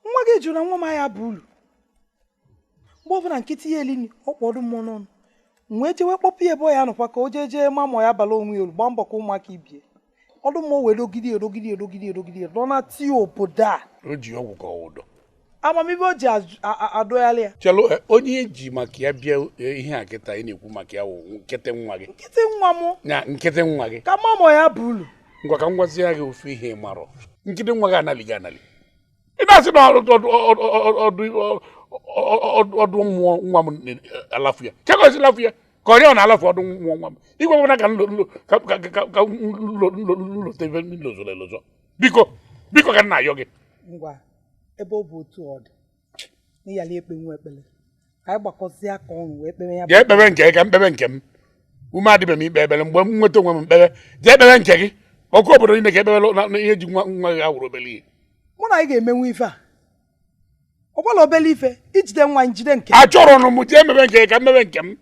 nwa gị jụrụ na nwa m ahịa bụ ulu mgbe ọbụla nkịtị ya elini ọ kpọ ọdụ mmụọ n'ọnụ wee jewe kpọpụ ya ebe ọ ya nọkwa ka o jee jee ma mọ ya bala onwe ya ulu gbaa mbọ ka ụmụaka ibie ọdụ mmụọ wee dogide edogide edogide edogide dọ na ti obodo a o ji ọgwụ ka ọ wụ ụdọ amamihe o ji adọgharị ya chelụ e, onye eji maka ya bịa e, ihe a kịta ị na-ekwu maka ya wụ nkịtị nwa gị nkịtị nwa m ya nkịtị nwa gị ka mamọ ya bụ ulu ngwa ka m gwazie gị ofu ihe ị marọ nkịtị nwa gị analighị anali ị na-asị na ọdụ mmụọ nwa m alafu ya chekọsi lafu ya ka ọrịa ọ na-alafu ọdụ mmụọ nwa m igwe gwara ka nlote ife nlozọrọ elozọ biko biko ka m na-ayọ gị ngwa ebe ọ bụ otu ọ dị na ịyala ekpe nwa ekpere ka anyị gbakọzie aka ọnụ wee kpere ya jee kpebe nke gị ka m kpebe nke m ume adịbeghị m ikpe ekpere mgbe m nweta onwe m m kpebe jee kpebe nke gị ọkụ obodo niile ka ekpebere na- na ihe ji nwa nwa gị awụrọ obere ihe mụ na gị ga-emenwu ife a ọ bụla obere ife i jide nwa gị njide nke achọrọ nụ m jee mebe nke gị ka m mebe nke m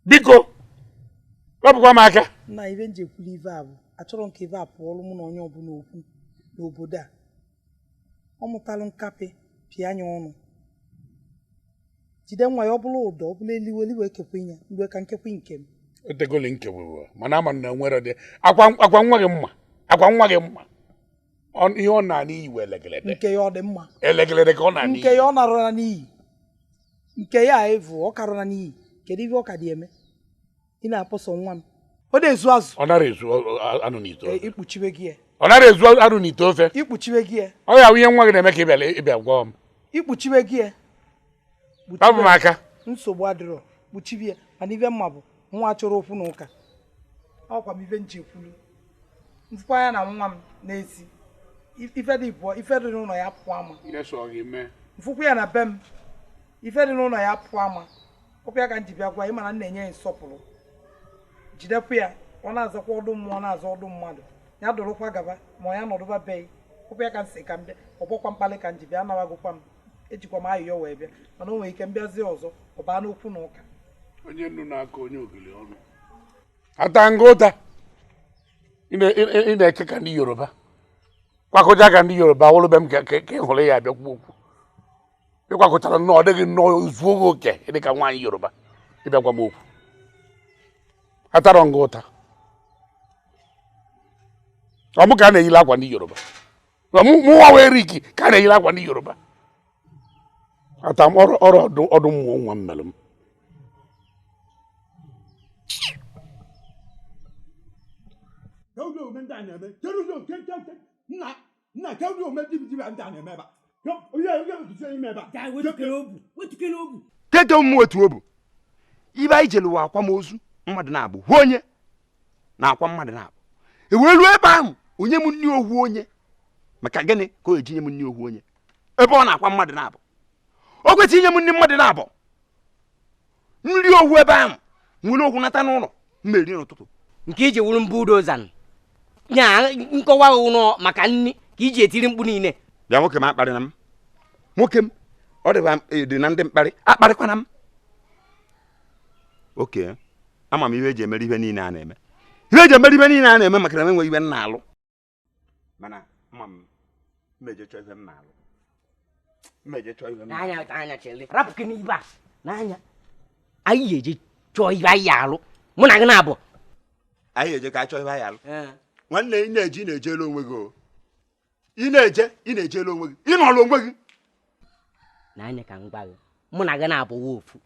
biko wepụkwa m aka na ife nji ekwuli ife a bụ achọrọ m ka ife a pụọlụ mụ na onye ọbụla okwu n'obodo a ọ mụtalụ nkapị pịa ya ọnụ jide nwa ya ọ bụlụ ụdọ ọ bụlụ elili wee kekwe ya mgbe ka nkekwe nke m o tegoli nke wewe mana ama na nwere dị akwa akwa nwa gị mma akwa nwa gị mma Ọ- ihe ọ na-ana iyi wee elegelede nke ya ọ dị mma elegelede ka ọ na-ana nke iyi ya ọ narụla n'iyi nke ya evu ọ karụla n'iyi kedu ihe ọ ka dị eme ị na-akpọ sọ nwa m ọ na-ezu azụ ọ nara ezu anụ n'ite ofe ikpuchiwe gị ya ọ nara ezu anụ n'ite ofe ikpuchiwe gị ya ọ ya ihe nwa gị na-eme ka ị bịara ịbịa gwa m ikpuchiwe gị ya hapụ m aka nsogbu adịrọ kpuchiwe ya mana ife m ma bụ nwa chọrọ okwu na ụka ọkwa m ife nji ekwulu mfụkwa ya na nwa m n'ezi ife dị bụọ ife dị n'ụlọ ya pụọ ama mfụkwa ya na be m ife dị n'ụlọ ya pụọ ama ọkwa ya ka m ji bịa gwa ị mana m na-enye ya nsọpụrụ jidekwa ya ọ na-azakwa ọdụ mmụọ na-aza ọdụ mmadụ ya dụrụkwa gaba ma ọ ya nọdụba be ọkwa ya ka m si ka m bịa ọ bụrọkwa mkpalị ka m ji bịa anabagokwa m ejikwa m ayịyọ wee bịa mana o nwere ike mbịazie ọzọ ọ baa n'okwu na ụka onye nnu na-akọ onye ogili ọnụ ata m gị ụta ị na-eke ka ndị yoruba kwakọcha ka ndị yoruba wụrụ be m ka ị hụrụ ya abịa kwuo okwu ịkwakọtara nnọọ ọ dịghị nnọọ zuo gị oke ị dị ka nwaanyị yoruba ịbịa gwa m okwu atarọ m gị ụta ọ mụ ka a na-eyila akwa ndị yoruba mụnwa wee riki ka a na-eyila akwa ndị yoruba ata m ọrụ ọdụ mmụọ nwa m mere m nna ka ndị ome dibidiri a ndị a na-eme ebe a onye onye mbizie ime ebe a Gaa wetukere obu wetukere obu keke m wetuo obu ibe anyị jere ụwa akwamozu mmadụ naabọ ohu onye na-akwa mmadụ naabọ e wee ruo ebe ahụ o nye m nri ohu onye maka gịnị ka o eji nye m nri ohu onye ebe ọ na-akwa mmadụ naabọ o kwesịrị inye m nri mmadụ naabọ nri ohu ebe ahụ m were ohu nata n'ụlọ m ma-eri n'ụtụtụ nke iji wuru mbụ dozan ya nkọwa ụlọ maka nri ka i ji etiri mkpu niile bịa nwoke m akparịna m nwoke m ọ dịba e, dị na ndị mkparị akparịkwana m ok ama m ihe eji emere ihe niile a na-eme ihe eji emere ihe niile a na-eme maka na m enweghị ibe m na-alụ mana ama m m ma-eje chọọ ibe m na-alụ m ma-eje chọọ ibe m n'anya anya chele rapụ gị n'ibe a n'anya anyị ga-eje chọọ ibe anyị alụ mụ na gị naabọ anyị ga-eje ka anyị chọọ ibe anyị alụ nwanne ị na-eje ị na-ejelu onwe gị o ị na-eje ị na-ejelu onwe gị ị nọrọ onwe gị n'anya ka m gwa gị mụ na gị naabọ wụ ofu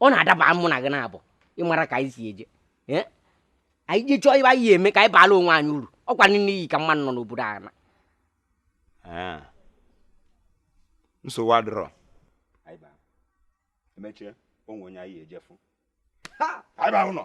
ọ na-adaba mụ na gị naabọ ị mara ka anyị si eje Eh? anyị je chọọ ibe anyị ya-eme ka anyị baalụ onwe anyị uru ọkwanụ n'iyi ka mmadụ nọ n'obodo a na Ah. nsogbu adịrọ anyị baa emechie onwe onye anyị ejefu anyị baa ụlọ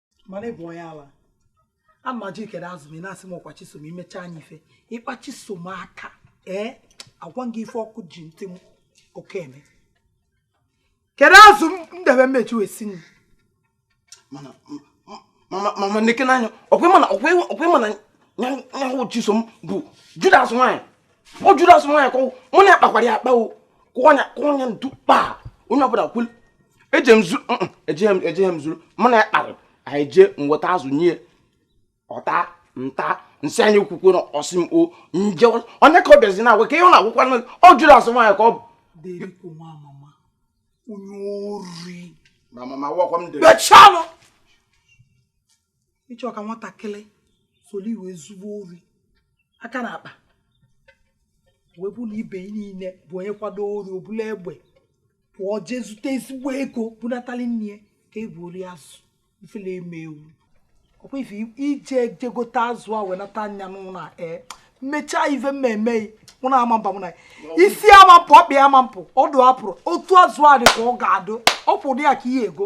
mana ị bụ onye ala a m ajụ ị kere azụ m ị na-asị m ọkwa chisom imecha anyị ife ị kpa chisom aka ee agwa gị ife ọkụ ji ntị m oke eme kere azụ m m debe m ma-eji wee sie nri mana mama nekene anya ọkwa ị ma na ọkwa ị ma na nyanwụ chisom bụ judas nwaanyị ọ judas nwaanyị ka ọ wụ mụ na ya kpakwara ya akpa o kụọ anya kụọ anya ntu kpaa onye ọbụla kwulu eje m zuru ejeghị m ejeghị m zuru mụ na ya kpara anyị jee nweta azụ nye ọ ta m ta m sị anyị kwukwe na ọ sị m o nje onye ka ọ bịazi na-agwa ka ihe ọ na-agwakwa ọ judas nwaanyị ka ọ bụ onye ori mechalụ ị chọ ka nwatakịrị soro ị wee zube ori a ka na-akpa wee bụ na ibe niile bụ onye kwado ori o bulu egbe pụọ jee zute ezigbo ego bunatali nne ka ebu ori azụ ifele eme ewu ọkwa ife i ji je gote azụ a wee nata nya n'ụlọ a ee mechaa ife m ma-eme mụ na amamba mụ na isi amampụ ọkpị amampụ ọdụ apụrụ otu azụ a dị ka ọ ga-adụ ọ pụrụ ya ka ihe ego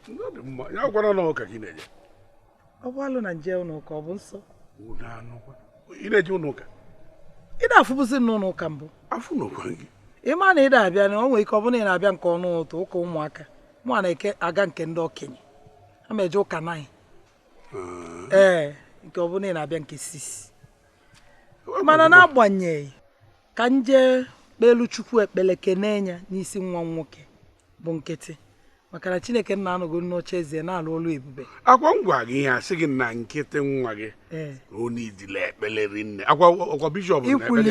ya gwara na ụka gị na-eje ọ bụ alụ na m jee ụlọ ụka ọ bụ nsọ ị na-eje ụlọ ụka ị na-afụbụzi m n'ụlọ ụka mbụ afụ n'ụkwa gị ị ma na ị na-abịa na o nwere ike ọ bụrụ na ị na-abịa nke ọnụ ụtụtụ ụka ụmụaka mụ na eke aga nke ndị okenye ama eje ụka naịn ee nke ọ bụrụ na ị na-abịa nke sisi mana na-agbanyeghị ka m jee kpeelu chukwu ekpele kenee ya n'isi nwa m nwoke bụ nkịtị maka na chineke nna anọgo n'oche eze na-alụ ọlụ ebube ọkwa m gwa gị ihe asị gị na nkịtị nwa gị ee onye idile ekpele rinne ọkwa i kwulu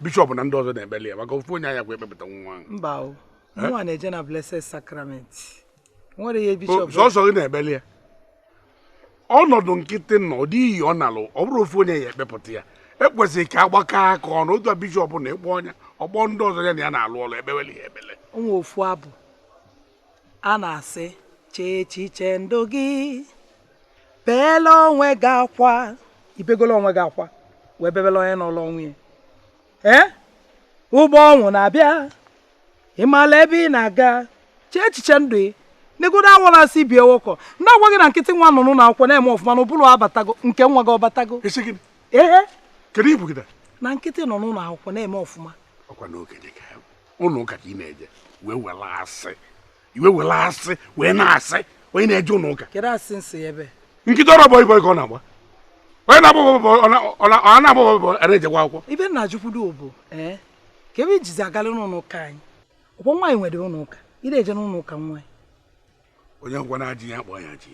bishọp na ndị ọzọ na-ekpele ya maka ofu onye anya kwa ekpepụta nwa ahụ mba o mụnwa na-eje na blessed sacrament sọsọ gị na-ebeli ya ọnọdụ nkịtị nọ ọ dị iyi ọ nalụ ọ bụrọ ofu onye ya-ekpepụta ya e kwesịrị ka a gbakọọ aka ọnụ otu a bishọp na ị kpọọ nya ọ kpọọ ndị ọzọ ya na ya na-alụ ọlụ ekpeweli ya ekpele o nwe ofu abụ a na-asị chee echiche ndụ gị beela onwe gị akwa i begolo onwe gị akwa wee bebela onye nọlụ onwe ya ee ụgbọ ọnwụ na-abịa ị maala ebe ị na-aga chee echiche ndụ ị negodo awala asị ibi ewekọ ndị agwa gị na nkịtị nwa nụnụ na akwụkwọ na-eme ọfụma na ụbụrụ abatago nke nwa gị ọ batago ee kedu ibu gị na nkịtị nọ n'ụlọ akwụkwọ na-eme ọfụma ọkwa n'oge dị ka ụlọ ụka ka ị na-eje wee were asị ị wee were asị wee na-asị onye na-eje ụlọ ụka kedu asị m sị ebe nkịtị ọrọ bọị bọị ka ọ na-agba onye na-agba ọ na-agba bọị a na-ejekwa akwụkwọ ibe na ajụkwudo bụ eh, ka ebe i jizi agala n'ụlọ ụka anyị ọkwa nwaanyị nwere ụlọ ụka ị na-eje n'ụlọ ụka nwaanyị onye ngwa na-adịghị akpọ ya ji